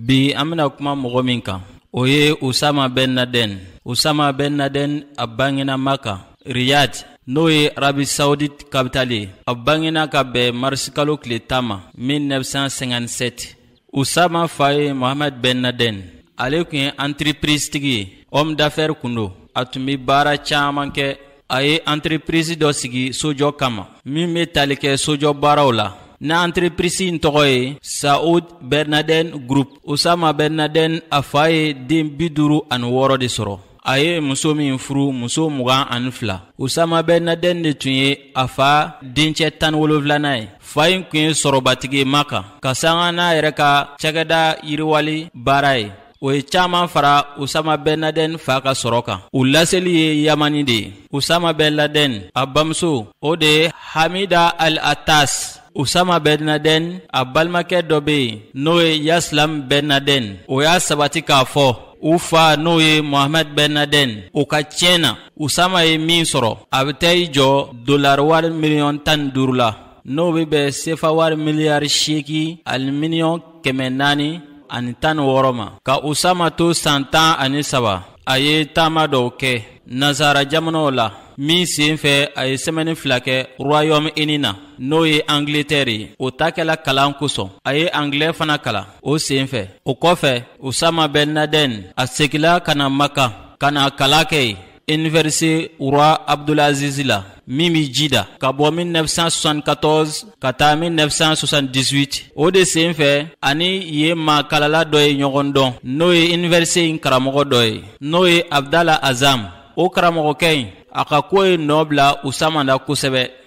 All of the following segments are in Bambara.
bi an bena kuma mɔgɔ min kan o ye usama ben laden usama ben laden a bangena maka riyad n'o ye arabi saudit kapitali ye a bangena ka bɛn marisikalo tile tan ma 1957 usama fa ye mohamad ben laden ale kun ye antiriprisitigi ye homme d'affaire kun don a tun be baara caaman kɛ a ye anterepirizi dɔ sigi sojɔ kama min bɛ tali kɛ sojɔ baaraw la na anterepirisi in tɔgɔ ye saud bɛn ladɛn group osama bɛn ladɛn a fa ye den bi duuru ani wɔɔrɔ de sɔrɔ a ye muso min furu muso mugan ani fila osama bɛn ladɛn de tun ye a fa dencɛ tan wolonfilanan ye fa in kun ye sɔrɔbatigi makan ka sanga n'a yɛrɛ ka cakɛda yiriwali baara ye o ye caaman fara usama bɛn ladɛn fa ka sɔrɔ kan u laseli ye yamani de ye usama bɛn ladɛn a bamuso o de ye hamida al atas usama bɛn ladɛn a balimakɛ dɔ be yen n'o ye yasilam bɛn ladɛn o y'a sabati k'a fɔ u fa n'o ye mohamɛd bɛn ladɛn o ka tiɲɛ na usama ye min sɔrɔ a be taa i jɔ dolari wari miliyɔn tan ni duuru la n'o be bɛn sefa wari miliyari seegin ani miliyɔn kɛmɛ naani ani tan ni wɔɔrɔ ma ka usama to san tan ani saba a ye taama dɔw kɛ nazara jamanaw la min sen fɛ a ye sɛmɛni fila kɛ royɔmu ini na n'o ye angletɛri ye o taa kɛla kalan kosɔn a ye angilɛ fana kalan o sen fɛ o kɔfɛ usama bɛn ladɛn a segila ka na maka ka na kalan kɛ yen Université Roi Abdulaziz la min bɛ Jida ka bɔ 1974 ka taa 1978 o de senfɛ ani ye maa kalala dɔ ye ɲɔgɔn dɔn n'o ye Université in karamɔgɔ dɔ ye n'o ye Abdala Azam o karamɔgɔkɛ in a ka ko ye nɔ bila Usama na kosɛbɛ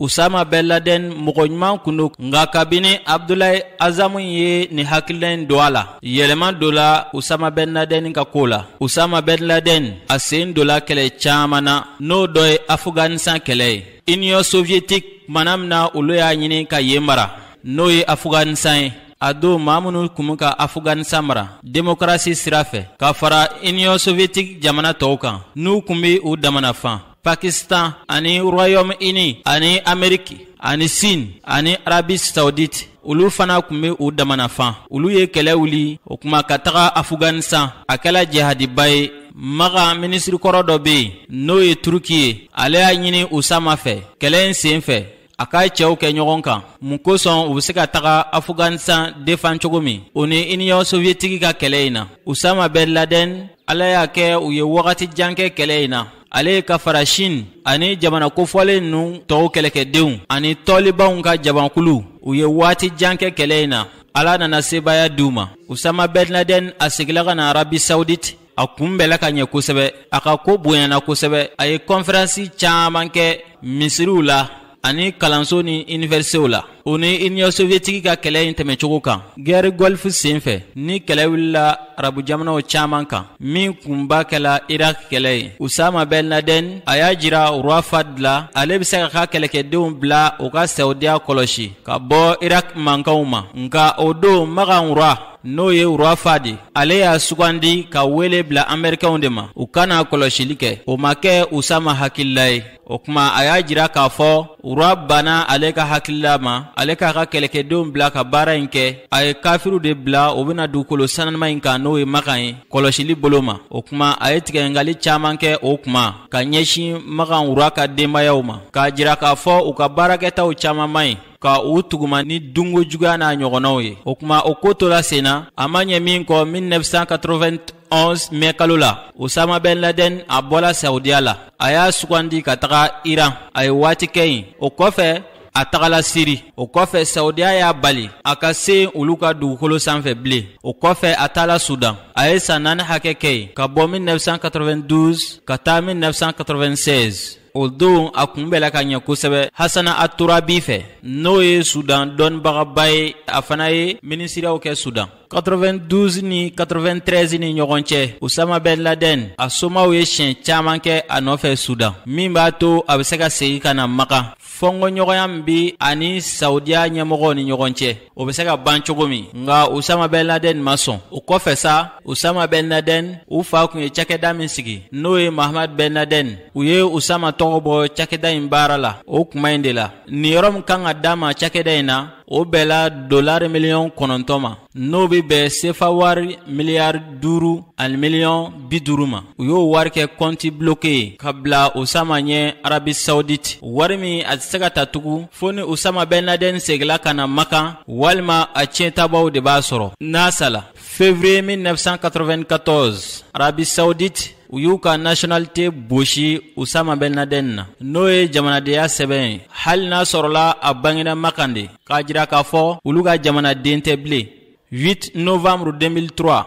usama bɛn laden mɔgɔ ɲuman kun do nka kabini abdulayi azamu ye nin hakilina in don a la yɛlɛma dola usama bɛn laden ka koo la usama bɛn laden a sen dola kɛlɛ caaman na n'o dɔ ye afuganisan kɛlɛ ye union soviyetik mana min na olu y'a ɲini ka yen mara n'o ye afuganisan ye a don maa minnu kun bɛ ka afuganisan mara demokarasi sira fɛ ka fara union soviyetik jamana tɔw kan n'u kun be u dama na fan pakistan ani royɔm ini ani ameriki ani sin ani arabi saudite olu fana kun be u dama na fan olu ye kɛlɛ wuli o kuma ka taga afuganisan a kɛla jihadiba ye maka minisiri kɔrɔ dɔ be yen n'o ye turuki ye ale y'a ɲini usama fɛ kɛlɛ in sen fɛ a ka cɛw kɛ ɲɔgɔn kan mun kosɔn u be se ka taga afuganistan defan cogo min o ni iniyɔn soviyetiki ka kɛlɛ in na usama bɛn ladɛn ala y'a kɛ u ye wagati jan kɛ kɛlɛ in na ale ka fara shin ani jamana kofɔlen ninnu tɔw kɛlɛkɛdenw ani tɔlibanw ka jamankulu u ye waati jan kɛ kɛlɛ in na ala nana sebaaya di u ma usama bɛn ladɛn a segila ka na arabi saudite a kunbɛla ka ɲɛ kosɛbɛ a ka ko bonyana kosɛbɛ a ye kɔnferansi caaman kɛ misiriw la ani kalanso ni inivɛrisitew la o ni iniyɔn soviyetiki ka kɛlɛ in tɛmɛcogo kan gɛri gɔlifu sen fɛ ni kɛlɛ wulila arabu jamanaw caaman kan min kunba kɛla irak kɛlɛ ye usama bɛn ladɛn a y'a jira rwa fad la ale be se k'a ka kɛlɛkɛdenw bila u ka sawudiya kɔlɔsi ka bɔ irak mankanw ma nka o don magan rwa n'o ye rwa fad ale y'a sugandi ka wele bila amerikɛnw de ma u ka na kɔlɔsili kɛ o ma kɛ usama hakilila ye o kuma a y'a jira k'a fɔ rwa banna ale ka hakilila ma ale k'a ka kɛlɛkɛdenw bila ka baara in kɛ a ye kafiriw de bila u bena dugukolo sananiman in kan n'o ye makan ye kɔlɔsili bolo ma o kuma a ye tigɛngali caaman kɛ o kuma ka ɲɛsin makan rwa ka denbayaw ma k'a jira k'a fɔ u ka baarakɛtaw caaman man ɲi ka u tuguma ni dungo juguya n'a ɲɔgɔnnaw ye o kuma o ko tola sen na a ma ɲɛ min kɔ 1991 mɛ kalo la usama bɛn ladɛn a bɔla saudiya la a y'a sugandi ka taga iran a ye waati kɛ yen o kɔfɛ a tagala siri o kɔfɛ saudiya y'a bali a ka se olu ka dugukolo sanfɛ bilen o kɔfɛ a taala sudan a ye san naani hakɛ kɛ yen ka bɔ 1992 ka taa 1996 o don a kunbɛla ka ɲɛ kosɛbɛ hasana aturabi fɛ n'o ye sudan dɔnnibagaba ye a fana ye minisiriyaw kɛ sudan 92 ni 93 ni ɲɔgɔn cɛ usama bɛn ladɛn a somaw ye siɲɛ caaman kɛ a nɔfɛ sudan min b'a to a bɛ se ka segi ka na makan fɔnkɔɲɔgɔnya min be a ni saudiya ɲɛmɔgɔw ni ɲɔgɔn cɛ o bɛ se ka ban cogo min nka usama bɛn laden ma sɔn o kɔfɛ sa usama bɛn laden u fa kun ye cakɛda min sigi n'o ye mahamad bɛn laden u ye usama tɔgɔ bɔ cakɛda in baara la o kuma in de la niyɔrɔ min kan ka d'a ma cakɛda in na o bɛnna dolari miliyɔn kɔnɔntɔn ma n'o bɛ bɛn sefa wari miliyari duuru ani miliyɔn bi duuru ma u y'o wari kɛ kɔnti bloke ye ka bila usama ɲɛ arabi saudite wari min a tɛ se ka ta tugun fo ni usama bɛn laden segila ka na makan walima a tiɲɛtabaw de b'a sɔrɔ n'a sala février 1994 arabi saudite u y'u ka nationalité bosi usama bɛn laden na n'o ye jamanadenya sɛbɛn ye hali n'a sɔrɔla a bangena makan de k'a jira k'a fɔ olu ka jamanaden tɛ bilen 8 novembre 2003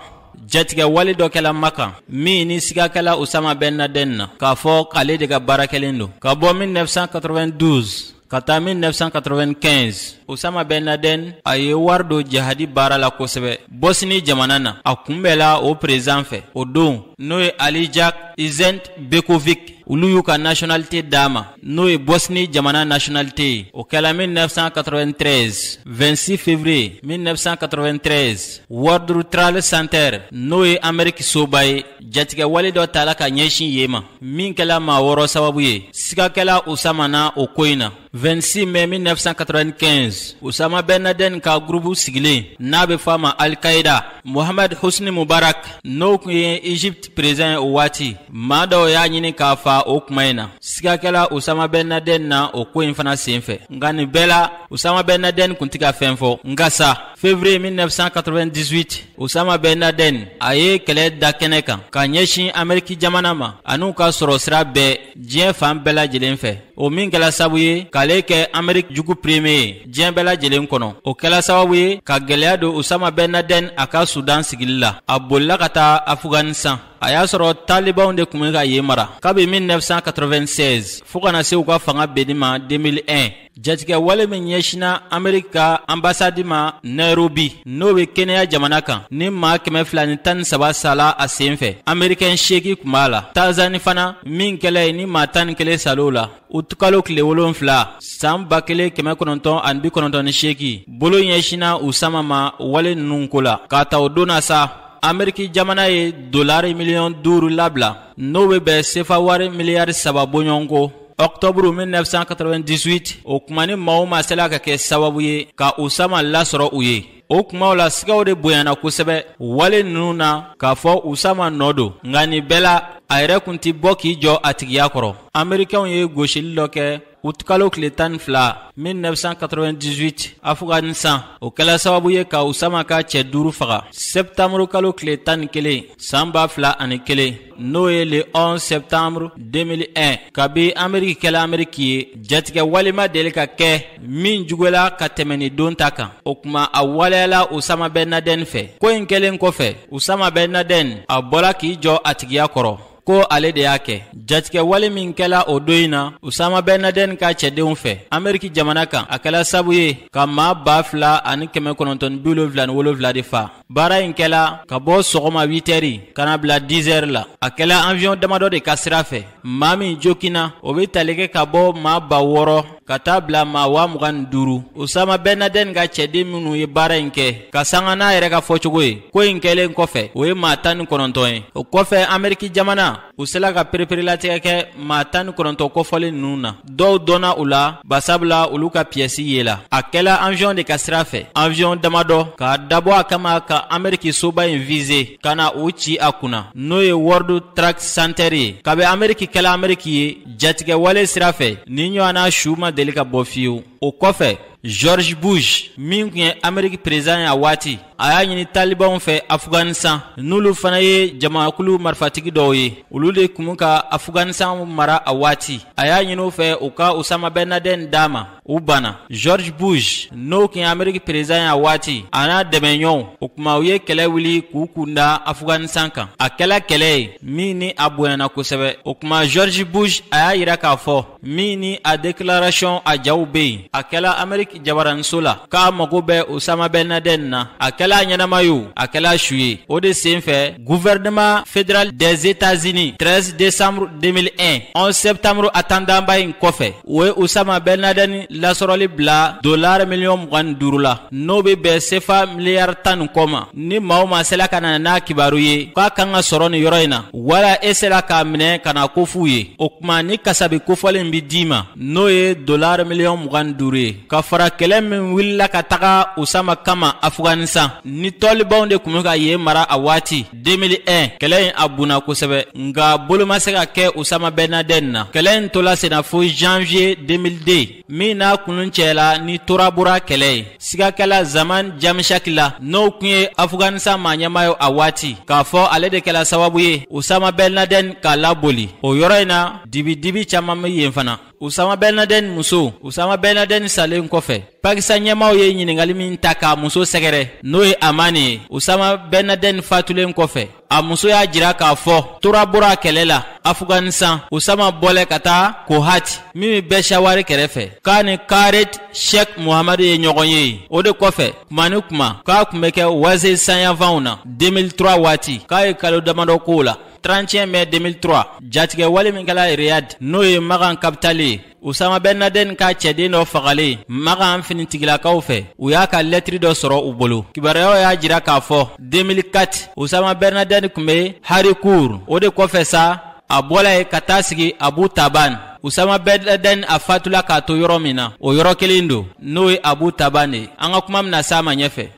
jatigɛ wale dɔ kɛla makan min ni siga kɛla usama bɛn ladɛn na k'a fɔ k'ale de ka baara kɛlen don ka bɔ 1992 ka taa 1995 usama bɛn ladɛn a ye wari don jihadi baara la kosɛbɛ bɔsini jamana na a kunbɛla o président fɛ o don n'o ye alija izetbegovic olu y'u ka nationalité d'a ma n'o ye bɔsni jamana nationalité ye o kɛla 1993 26 février 1993 world trade center n'o ye ameriki soba ye jatigɛ wale dɔ tala ka ɲɛsin yen ma min kɛla maa wɔɔrɔ sababu ye siga kɛla usama na o ko in na 26 mai 1995 usama ben laden ka gurupu sigilen n'a be f'a ma alkaida mohamad husni mubarak n'o kun ye egypte président ye o waati maa dɔw y'a ɲini k'a fa o kuma in na siga kɛla usama bɛn ladɛn na o ko in fana sen fɛ nka nin bɛɛ la usama bɛn ladɛn kun tɛ ka fɛn fɔ nka sa février 1998 usama bɛn ladɛn a ye kɛlɛ da kɛnɛ kan ka ɲɛsin ameriki jamana ma an'u ka sɔrɔ sira bɛɛ diɲɛ fan bɛɛ lajɛlen fɛ o min kɛla sabu ye k'ale kɛ ameriki jugu premier ye diɲɛ bɛɛ lajɛlen kɔnɔ o kɛla sababu ye ka gwɛlɛya don usama bɛn ladɛn a ka sudan sigili la a bolila ka taa afuganisan a y'a sɔrɔ talibanw de kun bɛ ka yen mara kabi 1996 fɔɔ ka na se u ka fanga benni ma 2001 jatigɛ wale min ɲɛsina ameriki ka anbasadi ma nairobi n'o be kenya jamana kan ni maa kɛmɛ fila ni tan ni saba sala a sen fɛ amerikɛn seeki kun b'a la tanzani fana min kɛla yen ni maa tan ni kelen sal'o la uti kalo tile wolonfila saan ba kelen kɛmɛ kɔnɔntɔn ani bi kɔnɔntɔn ni seeki bolo ɲɛsina usama ma wale nunu ko la k'a ta o don na sa ameriki jamana ye dolari miliyɔn duuru labila n'o bɛ bɛn sefa wari miliyari saba bɔɲɔgɔnko ɔktɔburu 1998 o kuma ni maa o maa sela ka kɛ sababu ye ka usama lasɔrɔ u ye o kumaw la sigaw de bonyana kosɛbɛ wale nunu na k'a fɔ usama nɔ don nka nin bɛɛ la a yɛrɛ kun tɛ bɔ k'i jɔ a tigiya kɔrɔ amerikɛnw ye gosili dɔ kɛ uti kalo tile tan ni fila 1998 afghanistan o kɛla sababu ye ka usama ka cɛ duuru faga sɛptanburu kalo tile tan ni kelen saan ba fila ani kelen n'o ye le 11 sɛptanburu 2001 kabi ameriki kɛla ameriki ye jatigɛ wale ma deli ka kɛ min juguyala ka tɛmɛ nin don ta kan o kuma a waleyala usama bɛn ladɛn fɛ ko in kɛlen kɔfɛ usama bɛn ladɛn a bɔla k'i jɔ a tigiya kɔrɔ ko ale de y'a kɛ jatigɛ wale min kɛla o don in na usama bɛn ladɛn ka cɛdenw fɛ ameriki jamana kan a kɛla sabu ye ka maa ba fila ani kɛmɛ kɔnɔntɔn bi wolonfila ni wolonfila de fa baara in kɛla ka bɔ sɔgɔma witɛri ka na bila dizɛri la a kɛla awiyɔn damadɔ de ka sira fɛ maa min jokina o be tali kɛ ka bɔ maa ba wɔɔrɔ ka taa bila maa waa mugan ni duuru osama bɛnadɛn ka cɛden minnu ye baara in kɛ ka sanga n'a yɛrɛ ka fɔcogo ye ko in kɛlen kɔfɛ o ye maa tan ni kɔnɔntɔn ye o kɔfɛ ameriki jamana u sela ka pereperelatigɛ kɛ maa tan ni kɔnɔntɔn kofɔlen ninnu na dɔw dɔnna u la basabula olu ka piyɛsi yela a kɛla anwiyɔn de ka sira fɛ anwiyɔn damadɔ k'a dabɔ a kama ka ameriki soba in vize ka na u ci a kunna n'o ye world trade center ye kabi ameriki kɛla ameriki ye jatigɛwale sira fɛ nin ɲɔgɔnna su ma deli ka bɔ fiyewu o kɔfɛ george bush min kun ye ameriki perezidan ye a waati a y'a ɲini talibanw fɛ afuganisan n'olu fana ye jamakulu marifatigi dɔw ye olu de kun ka afuganisan mara a waati a y'a ɲini u fɛ u ka usama bɛnadɛn d'a ma u banna george bush n'o kun ye ameriki perezidan y'a waati a n'a dɛmɛɲɔgɔnw o kuma u ye kɛlɛ wuli k'u kunda afuganistan kan a kɛla kɛlɛ ye min ni a bonyana kosɛbɛ o kuma george bush a y'a yira k'a fɔ min ni a dekilarasiyɔn a jaw be yen a kɛla ameriki jabaraniso la k'a mago bɛ osama bɛnadɛn na a kɛla ɲɛnama ye a kɛla su ye o de sen fɛ gouvernement fédéral des états-unis 13 décembre 2001 11 septembre atandanba in kɔfɛ o ye osama bɛnadɛni lasɔrɔli bila dolari miliyɔn mugan ni duuru la n'o be bɛn sefa miliyari tan ni kɔ ma ni maa o maa sela ka na n'a kibaru ye k'a kan ka sɔrɔ nin yɔrɔ in na wala e sela k'a minɛ ka n'a kof'u ye o kuma nin kasabi kofɔlen be d'i ma n'o ye dolari miliyɔn mugan ni duuru ye ka fara kɛlɛ min wulila ka taga osama kama afuganisan ni talibanw de kun be ka yen mara a waati 2001 kɛlɛ in a bunna kosɛbɛ nka bolo ma se ka kɛ usama bɛnadɛn na kɛlɛ in tola senna fo janvier 2002 min n'a kuncɛla ni torabora kɛlɛ ye siga kɛla zaman jamishaki la n'o kun ye afuganisan maa ɲɛmaa ye a waati k'a fɔ ale de kɛla sababu ye usama bɛnadɛn k'a laboli o yɔrɔ in na dibidibi caaman be yen fana usama bɛnadɛni muso usama bɛnadɛni salen kɔfɛ pakistan ɲɛmaaw ye ɲininkali min ta k'a muso sɛgɛrɛ n'o ye amani ye usama bɛnadɛni fatulen kɔfɛ a muso y'a jira k'a fɔ torabora kɛlɛ la afuganisan usama bɔlen ka taa kohati min bɛ peshawari kɛrɛfɛ k'a ni kaled shek muhamadu ye ɲɔgɔn ye o de kɔfɛ kuma ni kuma k'a kun bɛ kɛ wazirisan yanfanw na 2003 waati k'a ye kalo damadɔ k'o la 31 mai 2003 jatigɛ wale min kɛla riyad n'o ye magan kapitali ye usama bɛnadɛn ka cɛden dɔ fagalen magan finitigilakaw fɛ u y'a ka lɛtiri dɔ sɔrɔ u bolo kibaruyaw y'a jira k'a fɔ 2004 usama bɛnadɛn kun be haripur o de kɔfɛ sa a bɔla yen ka taa sigi abutabad usama bɛnadɛn a fatula k'a to yɔrɔ min na o yɔrɔ kelen don n'o ye abutabad de ye an ka kuma bɛna s'a ma ɲɛfɛ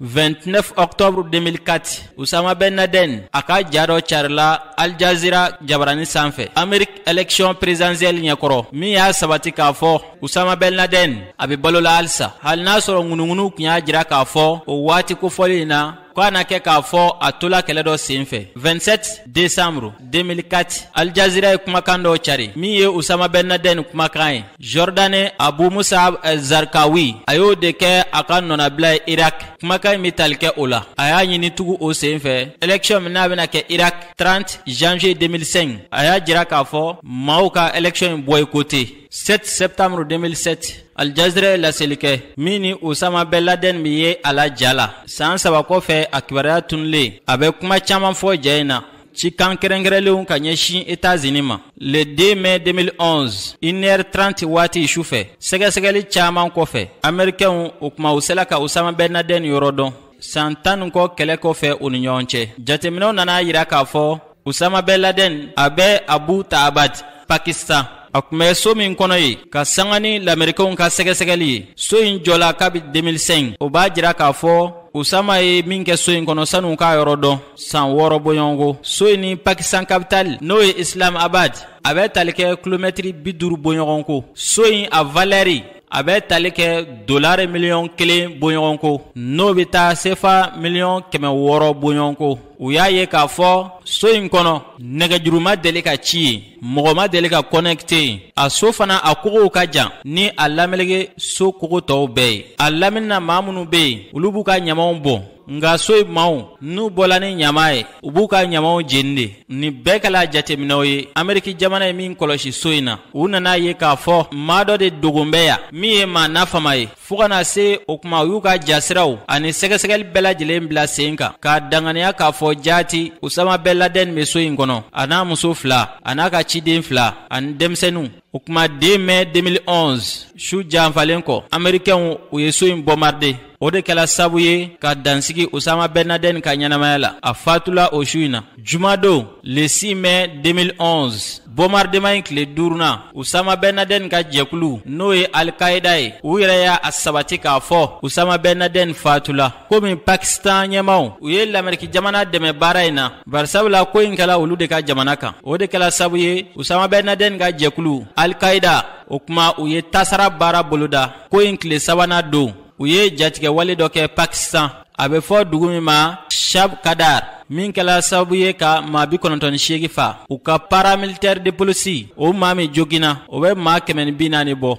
29 octobre 2004 Usama Ben Laden a ka ja dɔ carila Al Jazeera jabarani sanfɛ Amerique élection présidentielle ɲɛkɔrɔ min y'a sabati k'a fɔ Usama Ben Laden a bɛ balo la halisa hali n'a sɔrɔ ŋunuŋunu kun y'a jira k'a fɔ o waati kofɔli in na k'a na kɛ k'a fɔ a tola kɛlɛ dɔ senfɛ 27 décembre 2004 Al Jazeera ye kumakan dɔ cari min ye Usama Ben Laden kumakan ye Jordanie Abu Musab Zarkawi a y'o de kɛ a ka nɔnabila ye Irak kumakan in bɛ tali kɛ o la a y'a ɲini tugu o sen fɛ election min n'a bɛna kɛ Irak 30 janvier 2005 a y'a jira k'a fɔ maaw ka election in boycotter 7 septembre 2007 Al Jazeera ye laseli kɛ min ni Usama Ben Laden bɛ ye a la ja la san saba kɔfɛ a kibaruya tunulen a bɛ kuma caaman fɔ ja in na cikan kɛrɛnkɛrɛnlenw ka ɲɛsin etazini ma le 2 mai 2011 1h30 waati su fɛ sɛgɛsɛgɛli caaman kɔfɛ amerikɛnw o kuma u sela ka usama bɛn ladɛn yɔrɔ dɔn san tan ni kɔ kɛlɛ kɔfɛ u ni ɲɔgɔn cɛ jateminɛw nana a yira k'a fɔ usama bɛn ladɛn a bɛ Abbottabad pakistan a kun bɛ so min kɔnɔ yen ka sanga ni lamerikɛnw ka sɛgɛsɛgɛli ye so in jɔla kabi 2005 o b'a jira k'a fɔ usama ye min kɛ so in kɔnɔ san'u k'a yɔrɔ dɔn san wɔɔrɔ bɔɲɔgɔnko so in ni pakistan kapitali n'o ye islamabad a bɛ tali kɛ kilomɛtiri bi duuru bɔɲɔgɔnko so in a valɛri a bɛ tali kɛ dolari miliyɔn kelen bɔɲɔgɔnko n'o bɛ taa sefa miliyɔn kɛmɛ wɔɔrɔ bɔɲɔgɔnko u y'a ye k'a fɔ so in kɔnɔ nɛgɛjuru ma deli ka ci yen mɔgɔ ma deli ka kɔnɛkite yen a so fana a kogow ka jan ni a lamelege so kogo tɔw bɛɛ ye a laminina maa minnu bɛ yen olu b'u ka ɲamaw bɔn nka so in maaw n'u bɔla ni ɲama ye u b'u ka ɲamaw jeni de nin bɛɛ kɛla jateminɛw ye ameriki jamana ye min kɔlɔsi so in na u nana a ye k'a fɔ maa dɔ de dogon bɛ yan min ye maa nafama ye fo ka na se o kuma u y'u ka jasiraw ani sɛgɛsɛgɛli bɛɛ lajɛlen bila sen kan k'a danganiya k'a fɔ jaati usama bɛn ladɛn bɛ so in kɔnɔ a n'a muso fila a n'a ka ciden fila ani denmisɛninw o kuma 2 mai 2011 su janfalen kɔ amerikɛnw u ye so in bombardé o de kɛla sabu ye ka dan sigi usama bɛn ladɛn ka ɲɛnamaya la a fatula o su in na Jumadon le 6 mai 2011 bombardement in tile duurunan usama bɛn ladɛn ka jɛkulu n'o ye alikaida ye u yɛrɛ y'a sabati k'a fɔ usama bɛn ladɛn fatula komi pakistan ɲɛmaw u ye lameriki jamana dɛmɛ baara in na barisabula ko in kɛla olu de ka jamana kan o de kɛla sabu ye usama bɛn ladɛn ka jɛkulu alikaida o kuma u ye tasara baara boloda ko in tile sabanan don u ye jatigɛwale dɔ kɛ pakistan a bɛ fɔ dugu min ma shabkadar min kɛla sababu ye ka maa bi kɔnɔntɔn ni seegi fa u ka paramilitɛri de polisi o maa min joginna o bɛ maa kɛmɛ ni bi naani bɔ